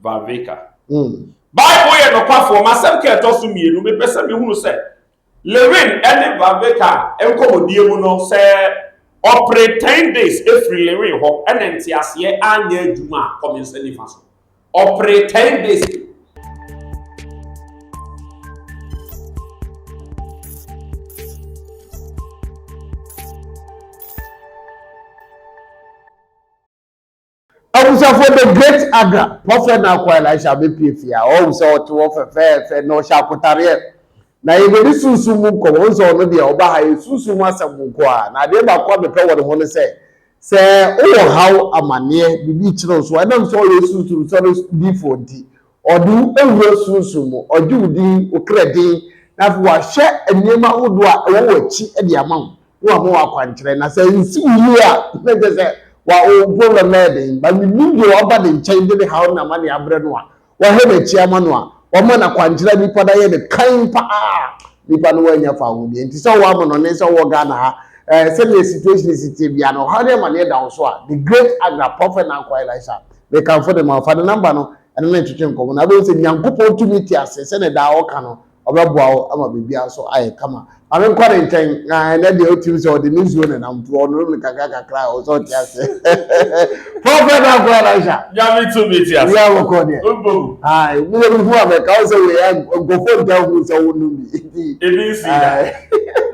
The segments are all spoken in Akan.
Varveka. Bible yɛ nokwafoɔ. M'asɛm ka ɛtɔ so mmienu. Mepɛ sɛ mehunu sɛ Lewin ne Varveka nkɔmmɔdie mu no, sɛ ɔpere ten days firi Lewin hɔ na nteaseɛ anyɛ adwuma a, kɔ me nsa nifa so. Ɔpere ten days. Abusuafoɔ The Great Aga, Prɔfɛt Naakoa Elisha abɛpue fie a, ɔhu sɛ ɔte hɔ fɛfɛɛfɛ na ɔhyɛ akotareɛ. Na yɛde ne sunsum mu nkɔmmɔ, wohu sɛ ɔno deɛ ɔba ha yɛ sunsum mu asɛm nko ara. Na adeɛ baako a mepɛ wɔ ne ho ne sɛ, sɛ wowɔ haw, amanneɛ, biribi rekyere wo so a, ɛnam sɛ ɔyɛ sunsum sɔre difoɔ nti, Ɔde wo awu wo sunsum mu, ɔgye wo din, wo kra din, na afei wahwɛ nneɛma ahodoɔ a ɛwɔ w'akyi de ama wo, na wama wo akwankyerɛ. Na sɛ ansi wo yie a, na kyerɛ sɛ wa wo problem no ayɛ den. But menim deɛ waba ne nkyɛn de ne haw ne n'amaneɛ abrɛ no a, wahwɛ n'akyi ama no a, wama no akwankyerɛ a nipa no ayɛ no kann paa. Nipa no wanya fa ho deɛ nti sɛ wowɔ amanɔne sɛ wowɔ Ghana ha, eh, sɛdeɛ situation si teɛ biara no, ɔhaw ne amaneɛ da wo so a, the great Agra, Prophet Nanko Elisha, Mekamfo de ma wo. Fa ne nɔmba no ne no ntwetwe nkɔmmɔ, na wobɛhu sɛ Nyankopɔn tumi te ase, sɛdeɛ daa ɔka no, ɔbɛboa wo ama biribiara nso ayɛ kama. Ma menkɔ ne nkyɛn, na ɛnnɛ deɛ wotirim sɛ ɔde ne nsuo nenam, nti ɔnonom no kakra kakra a, ɔwɔ sɛ ɔte ase. Prɔfɛt Dankwa Elisha. Nyame tumi te ase. Wia bɔkɔ deɛ. Ɔbɔ mu. Ae, meyɛ me hu a mɛka wo sɛ wei a, nkɔfoɔ ntaa hu sɛ wo nom bi, nti. Ebi nsii da.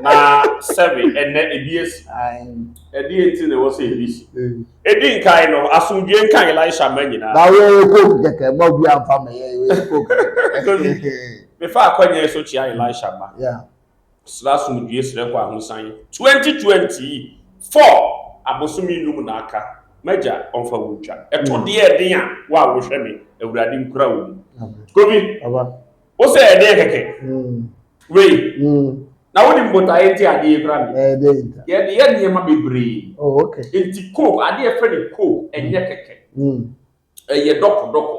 Na sɛbe, ɛnnɛ ebi asi. Ae. Ɛdeɛ nti na ɛwɔ sɛ ebi si? Edi nkan no, asomdwoe nka Elisha mma nyinaa. Na wo yɛ coke kɛkɛ mma obi anfa ma yɛ yɛ coke kɛkɛ. Mefa akwanyan so kyia Elisha mma. Yeah. Srɛ asomdwoe srɛ kɔ ahosan. Twenty twenty four abosome num na aka. M'agya ɔnfa wo ntwa. Ɛto deɛ ɛden a wo a wohwɛ me Awurade nkura wo mu. Kobi. Papa. Wo sɛ ɛdeɛ kɛkɛ. Wei. Na wo nim botaeɛ nti adeɛ yi kura mi. Ɛdeɛ nta. Yɛ de yɛ nneɛma bebree. Oh okay. Nti coke adeɛ fɛ ne coke ɛnyɛ kɛkɛ. Ɛyɛ dɔkɔ dɔkɔ.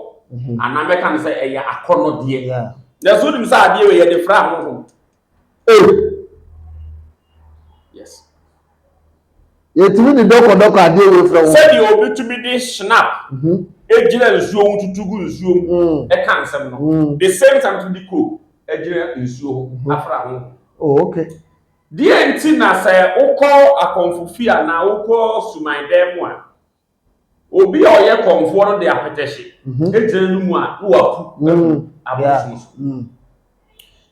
Anaa mɛka ne sɛ ɛyɛ akɔnɔdeɛ. Na so nim sɛ adeɛ wei yɛ de fra ahohom. Ei! Yes. Yɛtumi de dɔkɔdɔkɔ adeɛ wei frɛ wo. Sɛdeɛ obi tumi de shinap mhm. gyina nsuo ho tutu gu nsuo mu mm. ɛka nsɛm no. Mm. The same time tumi de coke gyina nsuo ho mhm. afra ho. Oh, okay. Deɛ nti na sɛ wokɔ akɔmfo fie anaa wokɔ suman dan mu a, Obi a ɔyɛ kɔmfoɔ no de apɛtɛhye mhm. gyina no mu a na waku agu mm. abosom so. Mm.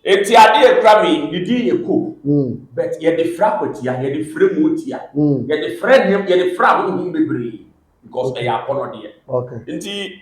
Eti adeɛ ekura mi ne din yɛ ko. Mm. But yɛde fira akwatia, yɛde fira mu otia, yɛde fira nneɛma, yɛde fira ahohom bebree because ɛyɛ akɔnɔdeɛ. Nti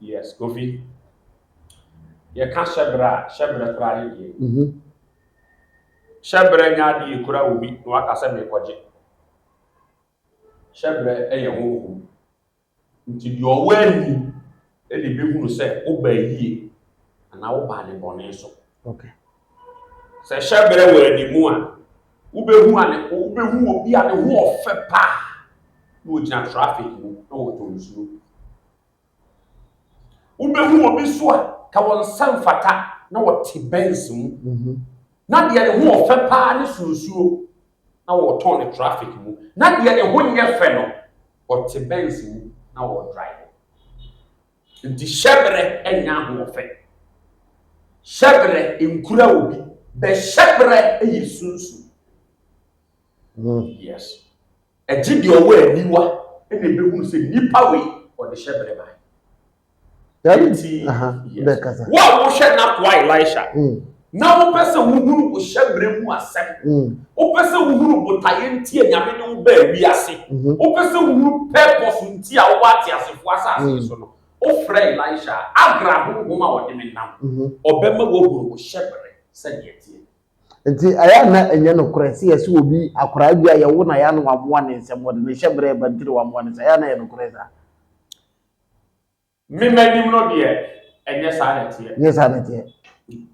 Yes, Kofi. Yɛka hyɛbrɛ a, hyɛbrɛ koraa ne deɛ. Mhm. Hyɛbrɛ nyɛ adeɛ yɛkura wɔ bi na waka sɛ merekɔgye. Hyɛbrɛ yɛ honhom. Nti deɛ ɔwɔ ani na ɛbɛhunu sɛ wobaa yie anaa wobaa ne bɔne so. Okay. Sɛ hyɛberɛ wɔ anim a, wobɛhu ane wobɛhu obi a ne ho ɔfɛ paa na ɔgyina traffic mu na ɔtɔ nsuo. Wobɛhu obi so a ka wɔn nsa mfata na ɔte Benz mu mhm. na deɛ ne ho ɔfɛ paa ne so nsuo na ɔtɔn ne traffic mu na deɛ ne ho nyɛ fɛ no ɔte Benz mu na ɔdrive. Nti hyɛberɛ nyɛ ahoɔfɛ. Hyɛberɛ nkura obi, bɛ hyɛberɛ yɛ sunsum. Oh yes. Ɛgye deɛ ɔwɔ aniwa na ɛbɛhunu sɛ nipa wei ɔde hyɛberɛ bae. Nti wo a wohwɛ n'akoa Elisha, mm. Na wopɛ sɛ wohunu wo hyɛmmerɛ mu asɛm. Mm. Wopɛ sɛ wohunu botaeɛ nti a Nyame de wo baa wiase. Mm-hmm. Wopɛ sɛ wohunu purpose nti a wowɔ ateasefoɔ asase mm. so no. Wofrɛ Elisha a, agra honhom a wɔde me nam. Mm-hmm. Ɔbɛma woahunu wo hyɛmmerɛ sɛdeɛ teɛ. Nti ɛyɛ na ɛnyɛ nokorɛ sɛ yɛsɛ obi akoraa bi a yɛwo na yɛ ano wamoa ne nsɛm wɔde ne hyɛmmerɛ ɛba ntiri wamoa ne sɛ ɛyɛ na ɛyɛ nokorɛ saa. Me m'anim no deɛ, ɛnyɛ saa na ɛteɛ. Ɛnyɛ saa na ɛteɛ.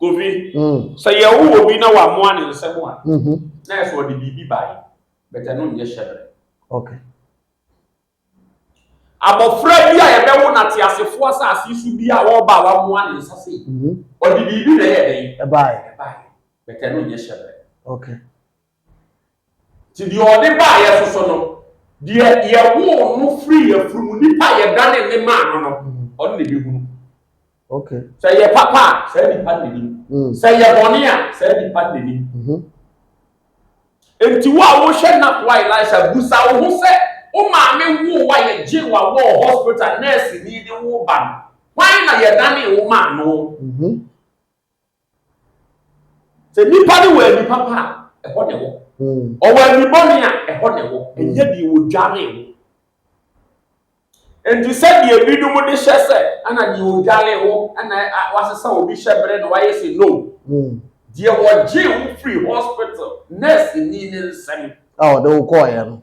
Kofi, mm. sɛ yɛwo obi na wamoa ne nsɛm a, mm-hmm. na ɛsɛ ɔde biribi bae, bɛtɛ ɛno nyɛ hyɛbrɛ. Okay. Abɔfra bi a yɛbɛwo no ateasefoɔ asase so bi a ɔreba a wamoa ne nsa sei, mm-hmm. ɔde biribi na ɛyɛ dɛn? Ɛbae. Ɛbae. Bɛtɛ ɛno nyɛ hyɛbrɛ. Okay. Nti deɛ ɔde baa yɛ so so no, deɛ yɛwoo no firi yɛ firi mu nipa yɛdane ne maa no no, ɔno na ɛbɛhunu. Okay. Sɛ yɛ papa a, saa nipa no n'anim. Mm. Sɛ yɛ bɔne a, saa nipa no n'anim. Mm-hmm. Nti wo a wohwɛ nakoa Elisa busa wo ho sɛ, wo maame woo wa yɛgye wa wɔ hospital nɛɛse ni de wo ba no, hwan na yɛdane wo maa no? Mm-hmm. Sɛ nipa no wɔ ani papa a, ɛhɔ na ɛwɔ. Hmm. Ɔwɔ ani bɔne a, ɛhɔ na ɛwɔ. Hmm. Ɛnyɛ deɛ wɔdware ho. Nti sɛdeɛ ebinom de hyɛ sɛ ɛna deɛ wɔdware ho ɛna wasesa obi hyɛ berɛ na wayɛ sɛ no. Hmm. Deɛ wɔgye wo firi hospital nurse ni ne nsɛm. A ɔde wo kɔɔeɛ no.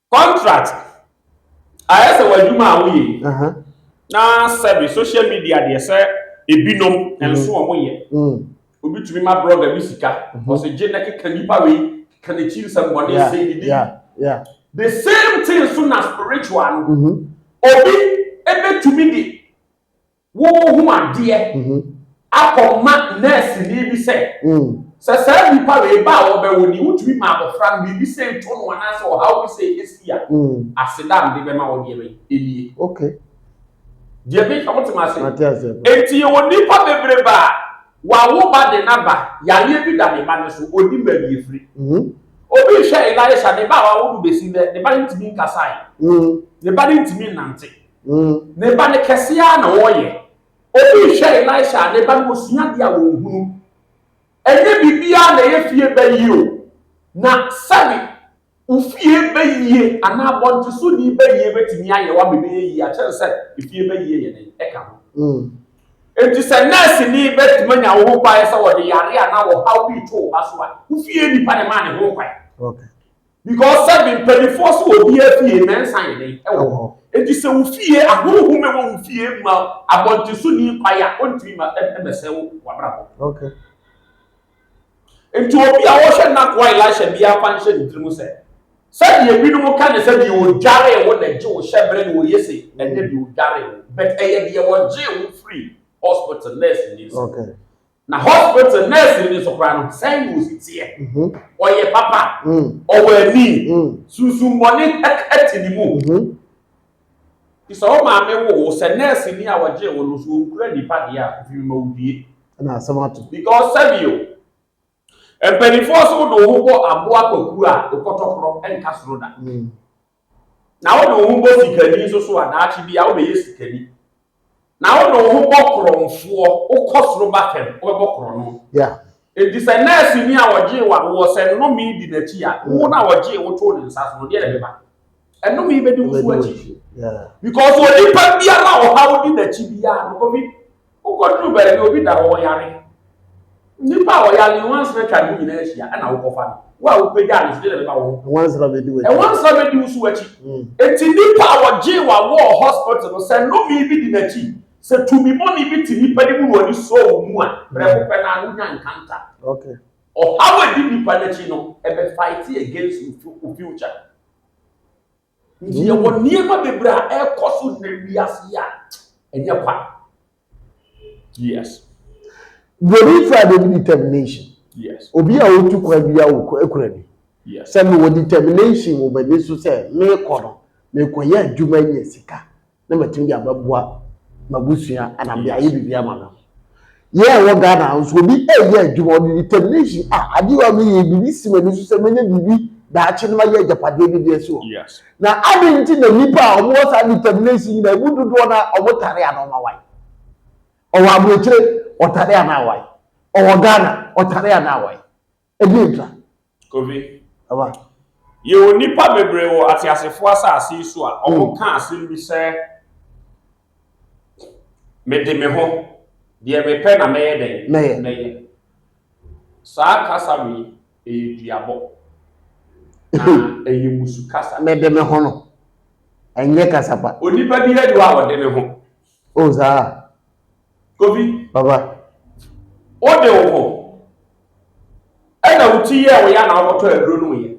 Contract ayɛ sɛ w'adwuma a woyɛ yi na sɛbi social media deɛ sɛ ebinom nso wɔn yɛ obi tumi ma blogger bi sika ɔsɛ gye na keka nipa wei keka n'akyi nsɛm bɔ ne sɛ ne de the same thing so na spiritual no obi ebetumi de Wohu adeɛ akɔ ma nɛɛseni bi sɛ, sɛ saa nnipa wei ba a wɔbɛwo ni, wotumi ma abɔfra no biribi sei to no anaasɛ ɔhaw bi sei si a, aseda a mede bɛma wo deɛ bɛn? Ɛnie. Okay. Deɛ meka wote m'ase? Mate ase. Enti yɛwɔ nnipa bebrebe a wawo ba de n'aba, yareɛ bi da ne ba no so, ɔnim baabi ɛfiri. Obi rehwɛ Elisha, ne ba a wawo no bɛsi nnɛ, ne ba no ntumi nkasae, ne ba no ntumi nnante. Mm. Ne ba ne kɛse ara na ɔreyɛ. Obi rehwɛ Elisha a ne ba no osua adeɛ a ɔnhunu. Ɛnyɛ biribiara na ɛyɛ fie bɛyie o. Na sɛbe wo fie bɛyie anaa abɔntesoni bɛyie bɛtumi ayɛ wo ama ɛbɛyɛ yie akyɛn sɛ efie bɛyie yɛ den ɛka ho. Mm. Enti sɛ nɛɛseni bɛtumi anya wo ho kwan sɛ wɔde yareɛ anaa ɔhaw bi reto wo ba so a, wo fie nipa na ɛmaa ne ho kwan. Okay. Because sɛ me mpanimfoɔ so wɔ obiara fie mɛnsa yɛ dɛn ɛwɔ hɔ. Enti sɛ wo fie ahohom ɛwɔ wo fie ma abɔnten so ni kwae a ɔntumi ma ɛmɛsɛ wo w'abrabɔ. Okay. Enti obi a ɔhwɛ n'akoa Elisha biara fa nhyɛ ne tirim sɛ sɛdeɛ binom ka ne sɛ deɛ ɔdwaree wo na ɛgye wo hyɛberɛ no ɔyɛ sei, ɛnyɛ deɛ ɔdwaree wo but ɛyɛ deɛ ɔgyee wo firii hospital nurse ni nsam. Okay. Na hospital nurse ni nso koraa no, sɛn na osi teɛ? Ɔyɛ papa, ɔwɔ ani, sunsummɔne te ne mu. Bisa wo maame woo wo sɛ, nurse ni a ɔgyee wo no, so ɔnkura nnipa deɛ a, ɔfiri ma wo due? Ɛna asɛm ato. Because sɛbio, mpanimfoɔ se wode wo ho bɔ aboa kwakuo a, wokɔtɔ korɔ, ɛnka soro da. Na wode wo ho bɔ sikani nso so a, daakye bi a wobɛyɛ sikani. Na wode wo ho bɔ korɔnfoɔ, wokɔ soro ba fam, wobɛbɔ korɔno. Enti sɛ nɛɛseni a ɔgyee wo awoɔ, sɛ nnome di n'akyi a, wo na ɔgyee wo too ne nsa so no, deɛ na ɛbɛba? Nnome bɛdi wo so akyi. Because onipa biara a ɔhaw di n'akyi biara no, kɔbi Wokɔduru baabi a obi da hɔ ɔyare, nnipa a ɔyare yi nwansena atwa ne ho nyinaa ahyia na wokɔfa no. Wo a wopagyaa no so, dɛn na ɛbɛba wo ho? Nwansena bedi w'akyi. Nwansena bedi wo so w'akyi. Enti nnipa a wɔgyee wɔn awo wɔ hospital no, sɛ nnome bi di n'akyi, sɛ tumi bɔne bi te nnipa no mu na wɔde sɔɔ wɔn mu a, prɛko pɛ no ara wonya nkanta. Ɔhaw a edi nnipa no akyi no, ɛbɛ fight against wo future. Nti yɛwɔ nneɛma bebree a ɛrekɔ so na wiase yi a ɛnyɛ kwa. Yes. Buroni faa de bi determination. Yes. Obi a otu kwan bi a okura bi. Yes. Sɛ mewɔ determination wɔ m'ani so sɛ merekɔ no, merekɔyɛ adwuma nya sika. na matumi de abɛboa m'abusua ana mede ayɛ biribi ama no yɛ ɛwɔ ghana nso obi ɛyɛ adwuma ɔde determination a adeɛ a meyɛ biribi si m'ani so sɛ mɛnya biribi daakye no mayɛ agyapadeɛ bi deɛ si hɔ na ade nti na nnipa a wɔwɔ saa determination nyinaa ɛmu dodoɔ no a wɔtare ana ɔma wae ɔwɔ aburokyire ɔtare ana awae ɔwɔ ghana ɔtare ana awae Ɛdeɛn ntra? Kofi, Aba. yɛwɔ nnipa bebree wɔ ateasefoɔ asase yi so a wɔka asɛm bi sɛ, Mede me ho, deɛ mepɛ na mɛyɛ dɛn? Mɛyɛ. Mɛyɛ. Saa kasa wei, ɛyɛ duabɔ. Na ɛyɛ mmusu kasa. Mede me ho no, ɛnyɛ kasa pa. Onipa biara ni hɔ a ɔde ne ho. Oh saa a. Kobi. Papa. Wode wo ho ɛna wo ti yɛ wo ya na wokɔtɔ aduro no yɛ.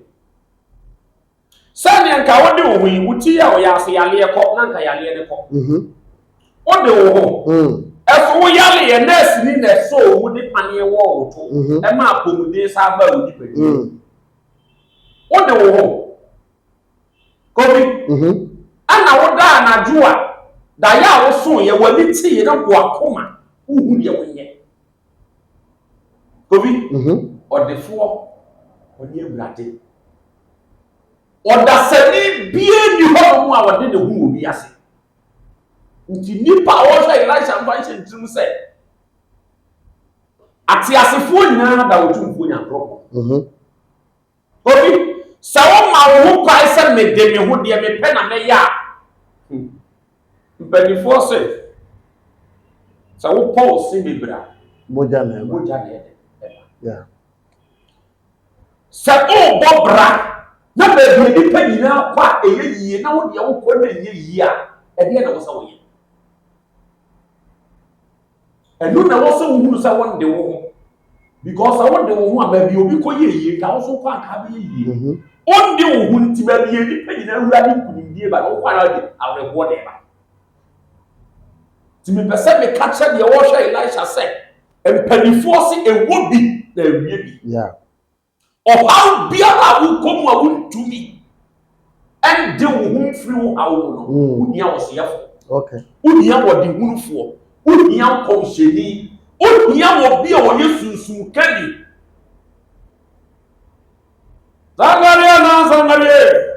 Sɛdeɛ nka wode wo ho yi wo ti yɛ wo ya ase yaleɛ kɔ na nka yaleɛ ne kɔ. Mhm. Wode wo ho. Mm. Ɛso wo yaleɛ nurse ni na ɛsɔ owu de paneɛ wɔ wo to. Mhm. Ɛma apɔmuden saa ba wo nipadua. Mm. Wode wo ho. Obi, ɛna wodaa anadwo a, daeɛ a wosooeɛ, w'ani teeɛ na w'akoma wohu deɛ wonyɛ. Obi, ɔdefoɔ, ɔne Awurade. Ɔdasani biara nni hɔnom a ɔde ne ho wɔ wiase. Nti nnipa a wɔhwɛ Elisha mfa nhyɛ ntirim sɛ ateasefoɔ nyinaa da Otumfoɔ Nyankopɔn. Obi, sɛ woma wo ho kwan sɛ mede me ho deɛ mepɛ na mɛyɛ a, hmm, mpanimfoɔ se, sɛ wopɔ wo se bebree a, mogya na ɛba. Mogya na ɛde ɛba. Yeah. Sɛ wobɔ bra na baabi nnipa nyinaa kɔ a ɛyɛ yie na wo deɛ wokɔ na ɛnyɛ yie a, ɛdeɛ na wo sɛ woyɛ. Ɛno na ɛwɔ sɛ wohunu sɛ wonde wo ho because sɛ wode wo ho a baabi obi kɔ yɛ yie nka woso kɔ anka bɛyɛ yie mhm. wonde wo ho nti baabi yɛ nnipa nyinaa awura de nkunimdie ba na wokɔ ara de awerɛhoɔ de ba nti mepɛ sɛ meka kyerɛ deɛ wɔhwɛ elisha sɛ mpanimfoɔ se ɛwɔ bi na ɛwie bi Ɔhaw biara a wokɔ mu a wontumi ɛnde wo ho mfiri wo haw mu no, mm. wohia ɔseyɛfo. Okay. Wohia ɔdehunufoɔ. Wohia nkɔmhyɛni. Wohia obi a ɔyɛ sunsun kani. Sangareɛ na sangareɛ.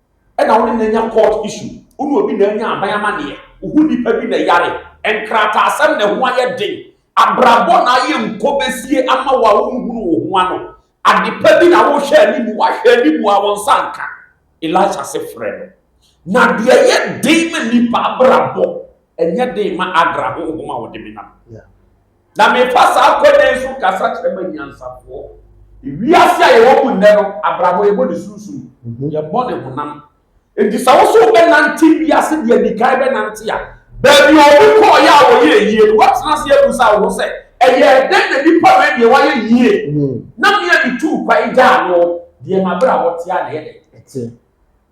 ɛna wo ne no anya court issue, wo ne obi na anya aban amanneɛ, wo ho nipa bi na yare, nkrataasɛm na ɛho ayɛ den, abrabɔ na ayɛ nkɔbesie ama wo a wonhunu wo ho ano, adepa bi na wohwɛ anim, woahwɛ anim a wo nsa nka. Elisha se frɛ no. Na deɛ ɛyɛ den ma nipa abrabɔ, ɛnyɛ den ma Agra honhom a wɔde menam. Yeah. na mefa saa akwanya yi so kasa kyerɛ m'anyansafoɔ. Wiase a yɛwɔ mu nnɛ no, abrabɔ yɛbɔ ne sunsum, mhm. yɛbɔ ne honam. Enti sɛ wo so wobɛnante wiase deɛ di kan bɛnante a, baabi a obi kɔɔyɛ a wɔyɛ yie no, woatena ase abusa wo ho sɛ, ɛyɛ dɛn na nipa wei deɛ wayɛ yie mhm. na mmea bi tuu kwan gyaa no deɛ mabrabɔ tea na ɛyɛ dɛn.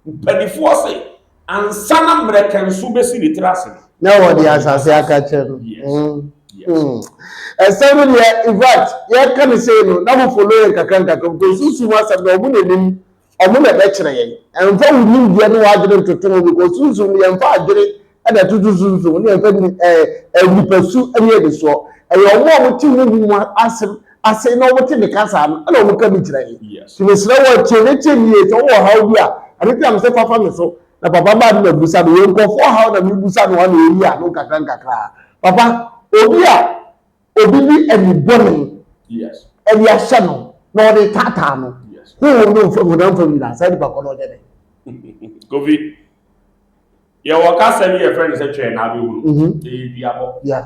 Mpanimfoɔ se ansa na mmerɛkɛnso bɛsi ne tiri ase no. Na wɔde asase aka kyɛ no. Ɛsɛm no deɛ in fact yɛka no sei no na mo follow yɛn kakra nkakra because sunsum asɛm no wɔn na nim wɔn na ɛbɛkyerɛ yɛn. Ɛmfa wo nimdeɛ ne w'adwene ntoto ho because sunsum no yɛmfa adwene Ɛna ɛtoto so nso, ne yɛfrɛ no ɛɛ nipasu ne anisoɔ. Ɛyɛ wɔn a wɔte honhom mu asɛm ase na wɔte me kasa no na wɔka bi kyerɛ yɛn. Nti mesrɛ wo tie ne tie ne yie. Sɛ wowɔ ɔhaw bi a, ɛno nti na mesɛ fa fa me so na papa ma adom abusa no. Yɛn nkurɔfoɔ ɔhaw na mebusa no ano ɛyi ano nkakra nkakra. Papa, obi a obi de anibɔne ɛde ahyɛ no na ɔde taataa no, honhom no mfam, honam fam nyinaa, saa nipa kɔ no ɔnyɛ dɛn? Kofi, Yɛwɔ kasa bi yɛfrɛ no sɛ twɛn na abɛhunu. Mhm. Ɛyɛ duabɔ. Yeah.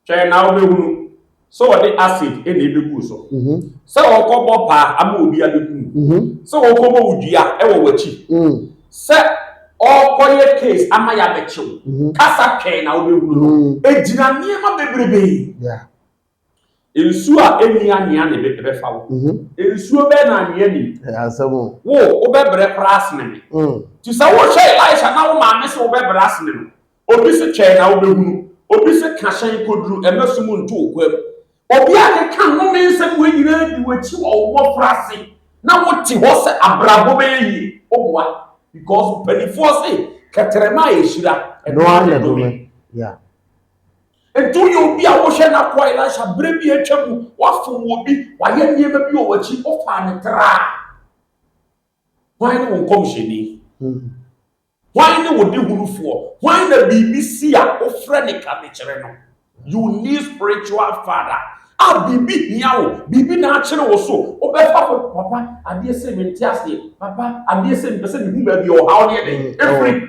Twɛn na wobɛhunu sɛ wɔde acid na ɛbɛgu so. Mhm. Sɛ wɔkɔbɔ paa ama obi abɛku. Mhm. Sɛ wɔkɔbɔ wo dua wɔ w'akyi. Mm. Sɛ ɔkɔyɛ case ama yɛabɛkyew. Mhm. Kasa twɛn na wobɛhunu no. Mm. Ɛgyina nneɛma bebrebe. Yeah. Nsuo a ɛnni anwea na ɛbɛfa wo. Mm-hmm. Nsuo bɛɛ na anwea ni. Wo, wobɛbrɛ koraa asene me. Mm. Nti sɛ wohwɛ Elisha na wo maame sɛ wobɛbrɛ asene no, obi se twɛn na wobɛhunu, obi se ka hyɛn kɔduru ɛmɛ so mu nto wo kwa mu. Obi a keka nnome nsɛm wei nyinaa di w'akyi wɔ wo mmɔfra ase na wote hɔ sɛ abrabɔ bɛyɛ yie, woboa. Because mpanimfoɔ se kɛtɛrɛma a ɛhyira ɛno ara na ɛdome. Edu yɛ obi a wohwɛ n'akoa Elisha bere bi a atwa mu, wafom wɔ bi, wayɛ nneɛma bi wɔ w'akyi, wofaa no traa. Hwan ne wo nkɔmhyɛni? Hmm. Hwan ne wo dehunufoɔ? Hwan na biribi si a wofrɛ ne ka de kyerɛ no? You need spiritual father. A biribi hia wo, biribi na akyere wo so, wobɛfa ho. Papa, adeɛ sɛ mente aseɛ. Papa, adeɛ sɛ mepɛ sɛ mehu baabi a ɔhaw ne ɛdɛn ɛfiri.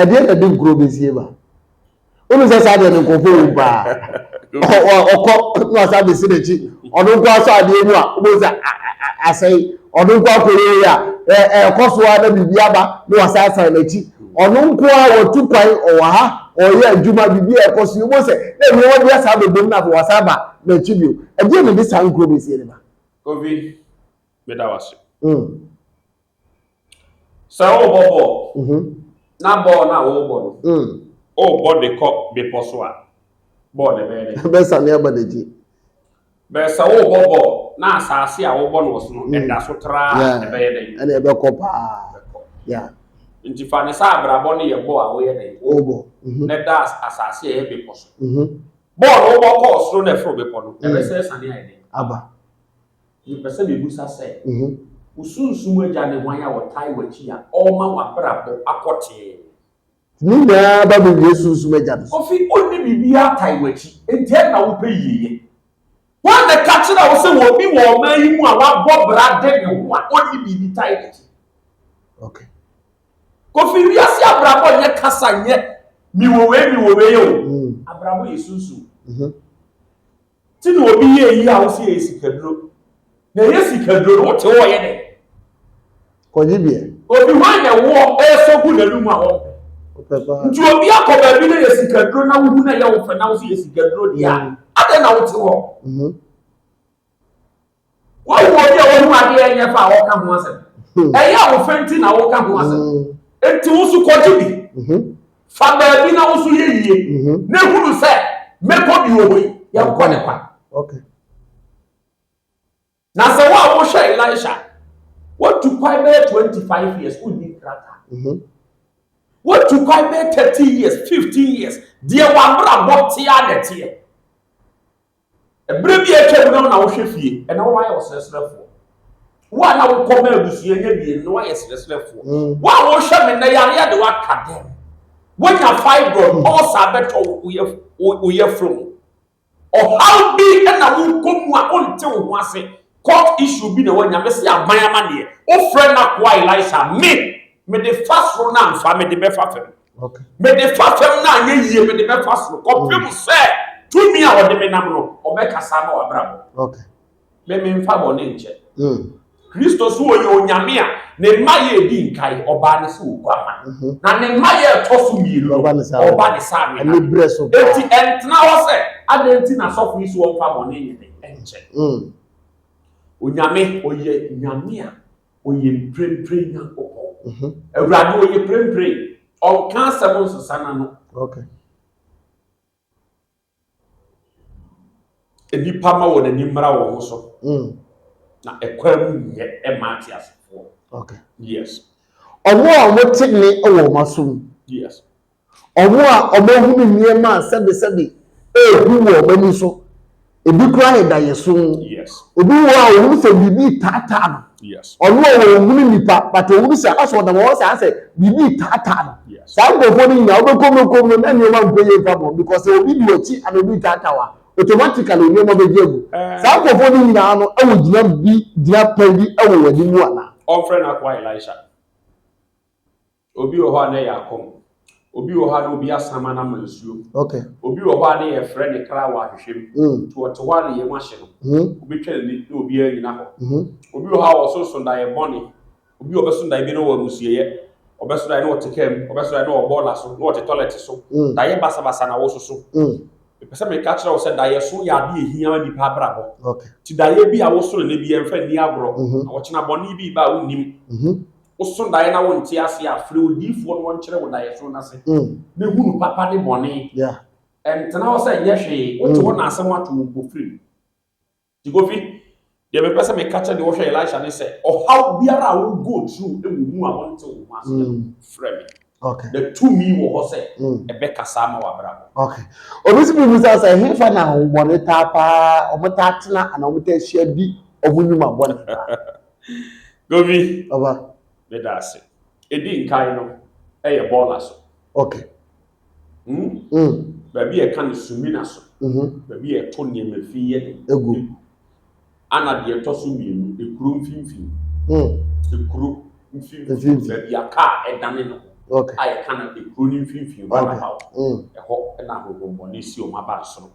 ɛdeɛ na ɛde nkuro bɛsie ba wonu sɛ saa deɛ no nkurɔfoɔ wɔ paa ɔkɔ na ɔsa bɛsi n'akyi ɔno nko asɔ adeɛ mu a wobɛhu sɛ asɛe ɔno nko akɔyɛyi a ɛkɔ so a na biribi aba na wasa asan n'akyi ɔno nko a wɔtu kwan ɔwɔ ha ɔyɛ adwuma biribi a ɛkɔ so wobɛhu sɛ na nneɛma bi asa bɛbom na afei wasa aba n'akyi bio ɛdeɛ na ɛde saa nkuro bɛsie no ba covid meda wase mm. Sɛ worebɔ bɔɔl, mhm. na bɔɔl no a worebɔ no, mm. worebɔ de kɔ bepɔ so a, bɔɔl no bɛyɛ dɛ. Bɛsane aba n'akyi. Bɛyɛ sɛ worebɔ bɔɔl na asase a wobɔ no wɔ so no, mm. ɛda so traa ɛbɛyɛ dɛ. Ɛna ɛbɛkɔ paa. Nti fa ne sɛ abrabɔ no yɛ bɔɔl a woyɛ dɛ. Wobɔ. Mhm. Na ɛda asase a ɛyɛ bepɔ so. Mhm. Bɔɔl no wobɔ kɔɔ soro na ɛforo bepɔ no, ɛbɛsɛ sane ayɛ dɛ. Aba. Mepɛ sɛ mebisa sɛ, wo sunsum agya ne hwan a ɔtae w'akyi a ɔrema w'abrabɔ akɔ tee? Ne nyinaa ba me wie sunsum agya no so. Ofi onni biribiara tae w'akyi, enti ɛnna na wopɛ yieyɛ. Hwan na ɛka kyerɛɛ wo sɛ obi wɔ ɔman yi mu a wabɔ bra de ne ho a onni biribi tae n'akyi? Okay. Kofi, wiase abrabɔ nyɛ kasa, nyɛ mewɔ wei mewɔ wei o. Abrabɔ yɛ sunsum. Nti na obi yɛ eyi a wosi ɛyɛ sikaduro. Na ɛyɛ sikaduro no wote hɔ ɔyɛ dɛ. Kɔgye bi ɛ. Obi hwan na ɛwoɔ ɛresɔ gu n'anum a wɔmpɛ. Nti obi akɔ baabi na ɛyɛ sikaduro na wohu na ɛyɛ wo fɛ na wosi yɛ sikaduro deɛ a, adɛn na wote hɔ. Woahu obi a wahu adeɛ ɛnyɛ fa a ɔka ho asɛm? Hmm. Ɛyɛ a wo fɛ nti na woka ho asɛm. Hmm. Enti wo nso kɔgye bi. Hmm. Fa baabi na wo nso yɛ yie. Na ehunu sɛ mɛkɔ bi wɔ hɔ yi, yɛnkɔ ne kwa. Na sɛ wo a wohwɛ Elisha, wotu kwan bɛyɛ twenty five years, wonni krataa. Wotu kwan bɛyɛ thirteen years, fifteen years, deɛ w'abrabɔ tea na ɛteɛ. Bere bi a atwam no na wohwɛ fie, ɛnna woayɛ ɔsrɛsrɛfoɔ. Wo a na wokɔ ma abusua nya mmienu no woayɛ srɛsrɛfoɔ. Mm. Wo a wohwɛ me nnɛ yareɛ de woaka dɛm. Woanya fibroid, mm. ɔsa bɛtɔ wo yɛforo mu. Ɔhaw bi na wokɔ mu a wonte wo ho ase. Court issue bi na woanya. Mese aban amanneɛ. Wofrɛ n'akoa Elisha, me, mede fa soro na mfa, mede bɛfa fam. Mede fa fam no anyɛ yie, mede bɛfa soro, kɔpem sɛ tumi a ɔde me nam no, ɔbɛkasa ama w'abrabɔ. Me memfa bɔne nkyɛ. Kristo so ɔyɛ Onyame a ne mma yɛ edi nkae, ɔbaa ne sɛ oguama. Na ne mma yɛ ɛtɔ so mmienu no, ɔba ne sɛ anibere. Enti ɛntena hɔ sɛ adɛn nti na asɔfo yi so wɔmfa bɔne nyɛ dɛn nkyɛ. Onyame ɔyɛ Nyame a. ɔyɛ mprempren nyankopɔn mhm. awurade ɔyɛ mprempren ɔnka asɛm nsesa na no nnipa ma wɔn ani mmara wɔn ho so mm. na ɛkwan mu nyɛ ɛma ate asefoɔ yes ɔmo a wɔte ne wɔ wɔn asom yes Wɔn a wɔahunu nneɛma a sɛbesɛbe rehu wɔ wɔn ani so, ebi koraa yɛ daeɛso. Obi wɔ hɔ a ɔhunu sɛ biribi retaataa no. Ɔno a ɔhunu nnipa, but ɔhunu sɛ asɛ ɔnam hɔ saa sɛ biribi retaataa no. Saa nkurɔfoɔ no nyinaa wobɛkɔ mu kɔ mu na nneɛma nkɔ yie mfa bɔ because sɛ obi di w'akyi ana obi retaataa wo a, automatically nneɛma bɛgye agu. Saa nkurɔfoɔ no nyinaa no wɔ gyina bi gyina pɛn bi wɔ w'anim anaa? Wɔmfrɛ no akoa Elisha. Obi wɔ hɔ a na ɛyɛ akɔm. Obi wɔ hɔ a na obi asan ama no ama nsuo. Okay. Obi wɔ hɔ a na yɛfrɛ ne kra wɔ ahwehwɛ mu. Mm. Nti ɔte hɔ a na yɛn mu ahye no. Mm. Wobɛtwa n'ani na obiara nyina hɔ. Mm. Obi wɔ hɔ a ɔso sondaeɛ bɔne. Obi ɔbɛso daeɛ bi na ɔwɔ amusueɛ. Ɔbɛso daeɛ na ɔte kaa mu. Ɔbɛso daeɛ na ɔwɔ bɔɔla so, na ɔte tɔlɛt so. Mm. Daeɛ basabasa na wososo. Mm. Mepɛ sɛ meka kyerɛ wo sɛ daeɛ so yɛ adeɛ ɛhia ma nipa abrabɔ. Okay. Nti daeɛ bi a woso no nɛ bi ɛmfa nni agorɔ. Mm-hmm. Na ɔkyena bɔne bi ba a wonnim. Mm-hmm. woso daeɛ na wonte ase a, frɛ odiyifoɔ na ɔnkyerɛ wo daeɛso no ase mm. na hunu papa ne bɔne. Yeah. Ɛntena hɔ sɛ nyɛ hwee, wote mm. hɔ na asɛm ato wo mpo firi mu. Nti Kofi, deɛ mepɛ sɛ meka kyɛ deɛ wɔhwɛ Elisha ne sɛ ɔhaw biara a wo go through wɔ mu a wonte wo ho aseɛ no, mm. frɛ me. Okay. The two me wɔ hɔ sɛ ɛbɛkasa ama w'abrabɔ. Okay. Obi si bibi sɛ sɛ hefa na ahohommɔne taa paa wɔn taa tena anaa wɔn taa hyia di wɔn nnwuma bɔne paa. Govi, Ɔba. meda ase. Ɛdi nkan no, ɛyɛ bɔɔla so. Ok. Hmm? Mm. Baabi a ɛka no sumina so. Mhm. Baabi a ɛto nneɛma fi yɛ dɛ. Ɛgu. Ana deɛ ɛtɔ so mmienu, ekuro mfimfini. Mm. Ekuro mfimfini. Mfimfini. Baabi a kaa ɛdane ne ho. Ok. A yɛka no ekuro no mfimfini, Ok. roundabout. Mm. Ɛhɔ na ahohommɔne si wɔn aba soro.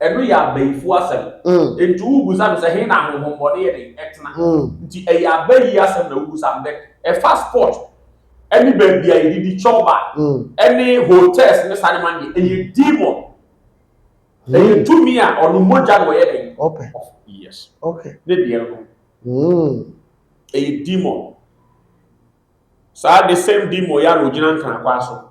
Ɛno yɛ abayifo asɛm. Enti wobisa no sɛ, He na ahonhommɔne yɛ dɛn tena? Nti ɛyɛ abayi asɛm na wobisa no. Dɛ ɛfa sport ne baabi a yɛdidi chɔba ne hotels ne saa nneɛma no deɛ, ɛyɛ demon. Ɛyɛ tumi a ɔno mogya na ɔyɛ dɛn? Ɔpɛ. Yes. Okay. Ne deɛ no. Ɛyɛ demon. Saa the same demon yi ara na ɔgyina Nkranakwaa so.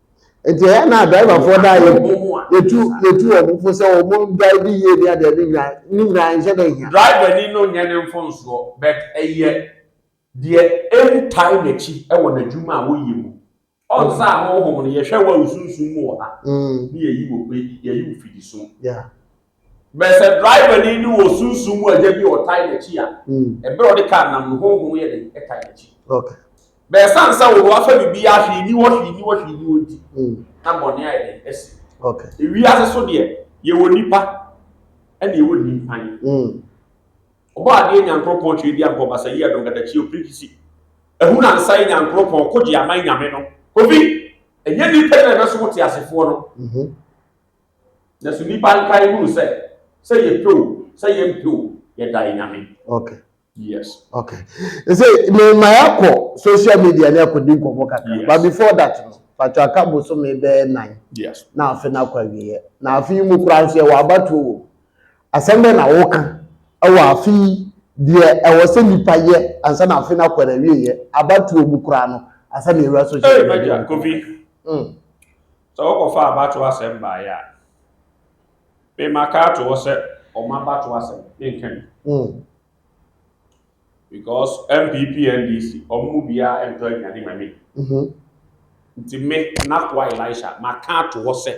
nti ɛyɛ na driverfoɔ da yɛtu yɛtu wɔn mpo sɛ wɔn drive yie ne adeɛ ne nyinaa ne nyinaa nhyɛ da hia. driver ni no nyɛ ne mfonsoɔ but ɛyɛ deɛ ɛntae n'akyi wɔ n'adwuma a wɔyɛ mu ɔnsa a honhom no yɛhwɛ wɔ nsunsum mu wɔ ha ne yɛyi wɔ yɛyi wo fidi so Bɛyɛ sɛ drivani no wɔ sunsum mu agya bi a ɔtae n'akyi a, hmm. bere a ɔde kaa nam no, honhom yɛ den tae n'akyi. Bɛyɛ sɛ ansa wɔ hɔ afa biribi a hwee ni hɔ hwee ni hɔ hwee ni hɔ nti, hmm. na bɔne ayɛ den asi. Ewi ase so deɛ, yɛwɔ nipa ɛna yɛwɔ nimpan. Hmm. Ɔbɔ adeɛ nyankoropɔn twɛ di ankɔ basa yi adɔn kadakyi opirikisi. Ehunu ansa yi nyankoropɔn kogye aman nyame no. Kofi, ɛnyɛ nipa na ɛbɛso wo te asefoɔ no. Mhm. Na so nipa nkae hunu sɛ sɛ yɛpɛ o sɛ yɛmpɛ o yɛda yɛ nyame. Okay. Yes. Okay. Ɛsɛ me ma yɛakɔ social media ne akɔdi nkɔmmɔ kakra. Yes. But before that no patwa aka bosome bɛyɛ nan. Yes. Na afe no akɔ awieɛ. Na afe yi mu koraa nso yɛwɔ abatoɔ wɔ mu. Asɛm bɛn na woka ɛwɔ afe yi deɛ ɛwɔ sɛ nipa yɛ ansa na afe no akɔ awieɛ abatoɔ mu koraa no ansa na yɛwura social media. Ɛɛ, Kofi. Mm. Sɛ wɔkɔfa abatoɔ asɛm baeɛ a, me maka ato hɔ sɛ wɔn abatoɔ asɛm ne nka bi. Mm. Because NPP NDC wɔn mu biara ntɔ aduane ma me. Mm -hmm. Nti me Nakoa Elisha maka ato hɔ sɛ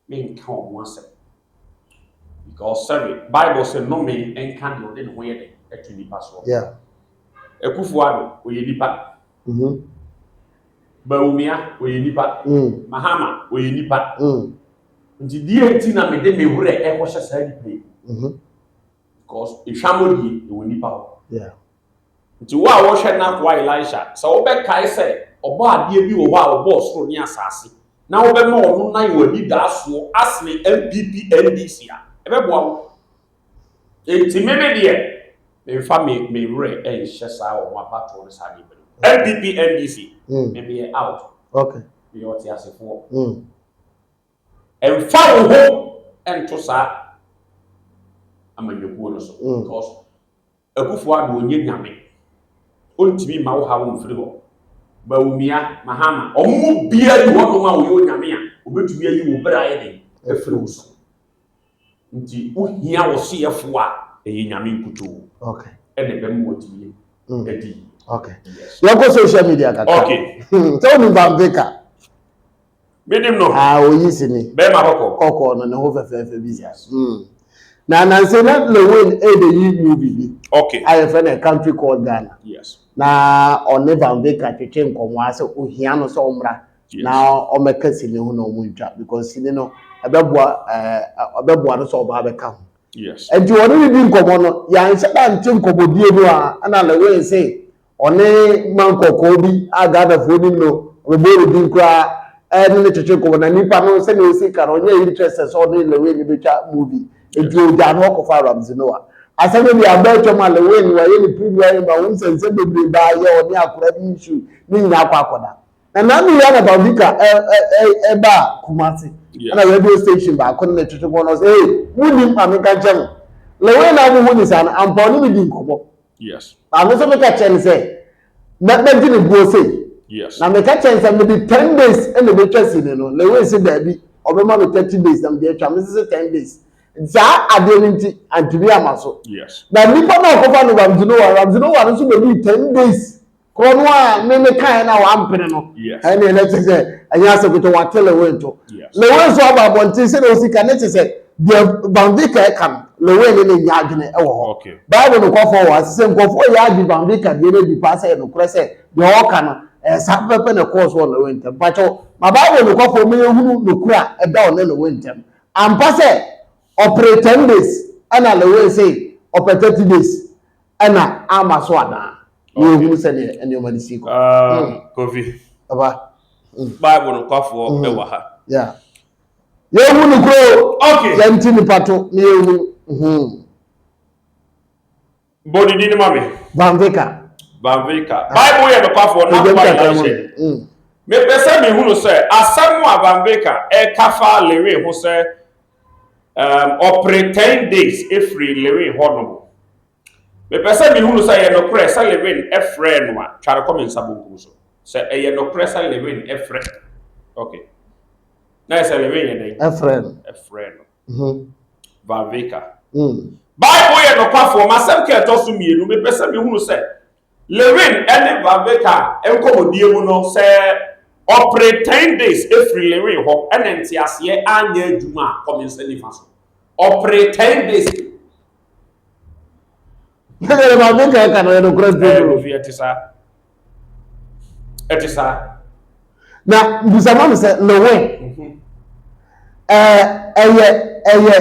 me nka wɔn asɛm. Because sɛbi Bible sɛ nnome nka deɛ ɔde ne ho yɛ dɛ ɛto nipa soɔ. Yeah. Akufo-Addo ɔyɛ nipa. Mhm. Bawumia ɔyɛ nipa. Mm. Mahama ɔyɛ nipa. Mm. Nti deɛ nti na mede me werɛ ɛkɔhyɛ saa nipa yi. Mhm. Because ehwamɔ die ɛwɔ nipa hɔ. Yeah. Nti wo a wɔhwɛ n'akoa Elisha sɛ wobɛkae sɛ ɔbɔ adeɛ bi wɔ hɔ a ɔbɔɔ soro ne asase na wobɛma ɔno nan wɔ anidaasoɔ asene NPP NDC a ɛbɛboa wo. Enti me me deɛ, memfa me me werɛ nhyɛ saa wɔn abatoɔ no saa nneɛma no mu. NPP NDC, mm. me meyɛ out. Okay. Meyɛ ɔteasefoɔ. Mm. Mfa wo ho nto saa amanyɔkuo no so. Mm. Because Akufo-Addo nyɛ nyame, ɔntumi mma wo haw mfiri hɔ. Bawumia, Mahama, wɔn mu biara nni hɔnom a ɔyɛ onyame a ɔbɛtumi ayi wo bere ayɛ den afiri wo so. Nti wohia wo soyɛfoɔ a ɛyɛ nyame nkutoo na ɛbɛma watumi adi yie. Yɛnkɔ social media kakra. Sɛ wonim Van Baker? Menim no. Ah, oyi si ni. Bɛrima kɔkɔɔ. Kɔkɔɔ no ne ho fɛfɛɛfɛ bi sa. Mm. Na nanse na Lewin ɛde yi movie bi. Okay. A yɛfrɛ no Country Called Ghana. Yes. Na ɔne Van Baker twetwe nkɔmmɔ a sɛ ohia no sɛ ɔmmra. Yes. Na ɔmmɛka sini ho na ɔmo ntwa because sini no ɛbɛboa ɛɛ ɛbɛboa no sɛ ɔba abɛka ho. Yes. Nti ɔne ne di nkɔmmɔ no yɛanhyɛ da nte nkɔmmɔdie no a ɛna Lewin se Ɔne man kɔkɔɔ bi a Ghanafoɔ nim no, ɔbɛbɔɔ no din koraa ne no twetwe nkɔmmɔ. Na nipa no sɛdeɛ ɔsi ka no, ɔnyɛ interested sɛ ɔne Lil Wayne bɛtwa movie. Nti ɔgyaa no hɔ kɔfaa Ramsey Nouah. Asɛm no deɛ abɔ atwam a Lil Wayne wayɛ ne premier yi ma wohu sɛ nsɛm bebree baa yɛ ɔne akwadaa bi issue no nyinaa akɔ akɔda. Na Nanu Rihanna Bawdika baa Kumasi ɛna radio station baako ne no twetwe nkɔmmɔ na ɔse, Hey, monnim a menka nkyerɛ mo, Lil Wayne a mohu no saa no, ampa ɔne me di nkɔmmɔ. Yes. Na me nso meka kyerɛ no sɛ na mɛgye ne boɔ sei. Yes. Na meka kyerɛ no sɛ mede ten days na mɛtwa sini no. Na wei se daabi ɔbɛma me thirty days na mede atwa. Me se ten days. Saa adeɛ no nti antumi ama so. Yes. Na nipa no a ɔkɔfa no Ramsey Noah, Ramsey Noah no nso bɛdii ten days. Kɔ no a ne ne kae na wampene no ɛne ɛnɛ te sɛ ɛnyɛ asɛ kotɔ wate lewin to lewin nso aba abɔnten sɛ na osi ka ne te sɛ deɛ banvika ɛka no lewin ne ne nya adwene ɛwɔ hɔ baibu no kɔfɔ wɔ ase sɛ nkɔfoɔ yɛ agye banvika deɛ no adi paa sɛ ɛno korɛ sɛ deɛ ɔka no ɛsa pɛpɛ na ɛkɔɔ so wɔ lewin ntɛm mpakyɛw ma baibu no kɔfɔ ma yɛhunu nokura ɛda ɔne lewin ntɛm ampa sɛ ɔpere 10 days ɛna lewin se ɔpɛ 30 days ɛna ama so anaa na yɛhunu sɛ deɛ nneɛma no sii kɔ kofi aba bible nokwafoɔ ɛwɔ ha yeah yɛhu no kuro okay yɛnti nipa to na yɛhu bɔdidi no ma me vanvika vanvika bible yɛ nokwafoɔ na akoma yɛ hyɛ mepɛ sɛ mehunu sɛ asɛm a vanvika ɛka fa lewe ho sɛ Um, ɔpere ten days efiri Lewin hɔ nom. Mepɛ sɛ mehunu sɛ ɛyɛ nokorɛ sɛ Lewin frɛɛ no a, twa no kɔ me nsa bonkum so. Sɛ ɛyɛ nokorɛ sɛ Lewin frɛ. Okay. Na yɛ sɛ Lewin yɛ dɛn? Ɛfrɛ no. Ɛfrɛ no. Mhm. Valveka. Mm. Bible yɛ nokwafoɔ. M'asɛm ka ɛtɔ so mmienu. Mepɛ sɛ mehunu sɛ Lewin ne Vaveka nkɔmmɔdie mu no, sɛ ɔpere ten days firi Lewin hɔ na nteaseɛ anyɛ adwuma a, kɔ me nsa nifa so. Ɔpere ten days. Ɛyɛ Vaveka ka no yɛ nokorɛ bio. Ɛyɛ Kofi, ɛte saa. Ɛte saa. na busa ma me sɛ lewe ɛɛ ɛyɛ ɛyɛ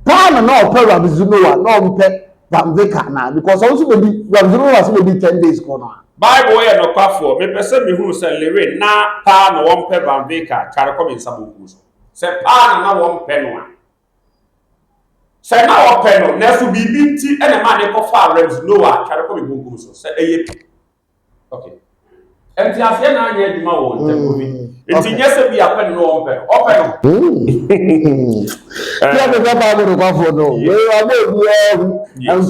paano na ɔpɛ rabizu noa na ɔmpɛ pamveka na because ɔno nso bɛdi rabizu noa nso bɛdi ten days kɔ no a. bible yɛ nɔkwafoɔ mepɛ sɛ mehunu sɛ lewe na paa na wɔmpɛ pamveka tware kɔ me nsa bonkum so sɛ paa na na wɔmpɛ no a sɛ na wɔpɛ no nanso biribi nti ɛna maa ne kɔfaa rabizu noa tware kɔ me bonkum so sɛ ɛyɛ Nti aseɛ na anyɛ adwuma wɔ ntɛm omi. Mm. Nti nyɛ sɛ bi apɛ no na ɔmpɛ no, ɔpɛ no. Yɛ ne bɛ baa bɛ nokwafo no. Wei ɔbɔ obiara hu.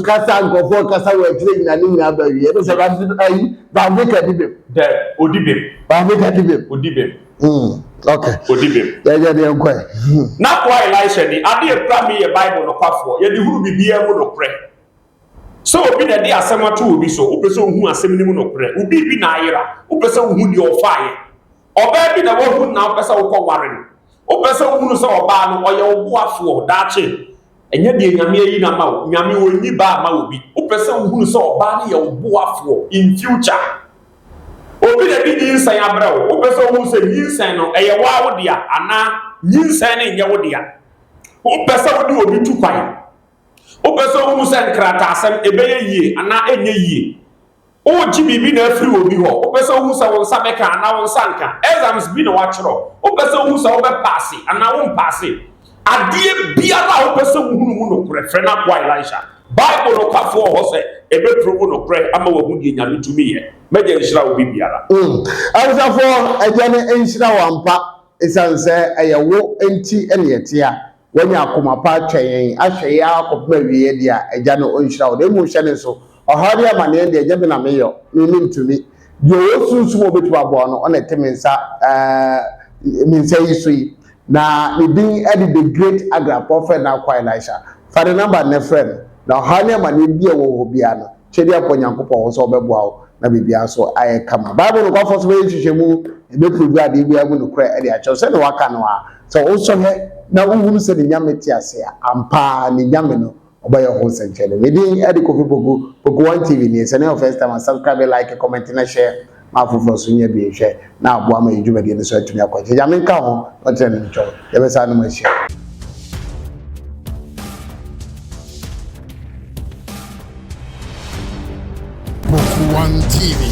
Nkasa nkɔfoɔ kasa wɔ akyire nyina ne nyina ba wie. Ɛno sɛ baabi ayi baabi ka di bem. Dɛ odi bem. Baabi ka di bem. Odi bem. Mm. Okay. Odi bem. Yɛ yɛ deɛ nkɔɛ. N'akoa Elisha ni adeɛ kura mi yɛ Bible nokwafoɔ yɛ de hunu bibiara mu nokorɛ. Sɛ obi na ɛde asɛm ato obi so, wopɛ sɛ wohu asɛm no mu nokorɛ. Wo biribi na ayera, wopɛ sɛ wohu deɛ ɔfaeɛ. Ɔbaa bi na woahu no na wopɛ sɛ wokɔ ware no. Wopɛ sɛ wohunu sɛ ɔbaa no, ɔyɛ wo boafoɔ daakye. Ɛnyɛ deɛ Nyame ayi no ama wo. Nyame ɔnyi baa mma obi. Wopɛ sɛ wohunu sɛ ɔbaa no yɛ wo boafoɔ in future. Obi na ɛde nyinsɛn abrɛ wo. Wopɛ sɛ wohunu sɛ nyinsɛn no, ɛyɛ wo ara wo dea anaa nyinsɛn no nyɛ wo dea. Wopɛ sɛ wode obi tu kwan. Wopɛ sɛ wuhu sɛ nkrataasɛm ɛbɛyɛ yie anaa ɛnyɛ yie? Woregye biribi na afiri obi hɔ? Wopɛ sɛ wuhu sɛ wo nsa bɛka anaa wo nsa renka? Exams bi na wɔakyerɛw. Wopɛ sɛ wuhu sɛ wobɛpaase anaa worempaase? Adeɛ biara a wopɛ sɛ wuhunu mu nokorɛ, frɛ n'akoa Elisha. Bible nokwafo wɔ hɔ sɛ ɛbɛpere wo nokorɛ ama woahu deɛ Nyame tumi yɛ. M'Agya nhyira wo biribiara. Mm, Awosafoɔ Agya no nhyira wo ampa, esiane sɛ ɛyɛ wo nti ne yɛte a. Wanya akoma pa atwɛn yɛn, ahwɛ yɛn ara kɔpem awieɛ deɛ a, Agya no ɔnhyira wo. Na mmom hyɛ no nso, ɔhaw ne amaneɛ deɛ, nyɛ me na me yɔ, me mentumi. Deɛ ɔwɔ sunsum a ɔbɛtumi aboa wo no, ɔna ɛte me nsa eh, me nsa yi so yi. Na ne din de The Great Agra Prophet Nankwa Elisha. Fa ne number nnɛ frɛ no, na ɔhaw ne amaneɛ bi a ɛwɔ hɔ biara no, Kyɛdeɛ a pɔ Nyankopɔn hɔ sɛ ɔbɛboa wo na biribiara nso ayɛ kama. Bible nokwafo nso bɛyɛ nhwehwɛmu, ɛbɛpuruvu adeɛ biara mu nokorɛ de akyerɛ wo. Sɛdeɛ wɔaka no ara, sɛ wosɔhwɛ na wohunu sɛ ne Nyame te ase a, ampa ara ne Nyame no ɔbɛyɛ ho nsɛnkyerɛnne. Me din de Kofi Poku, Poku One TV nie. Sɛ ɛnɛ yɛ wo first time a, subscribe, like, comment na share. ma afoforɔ nso nyɛ bi nhwɛ na aboa ma yɛn dwumadie no nso atumi akɔ akyiri. Nyame nka ho, ɔnkyerɛ ne ntwɔ. Yɛbɛsan no mu ahyia. One TV.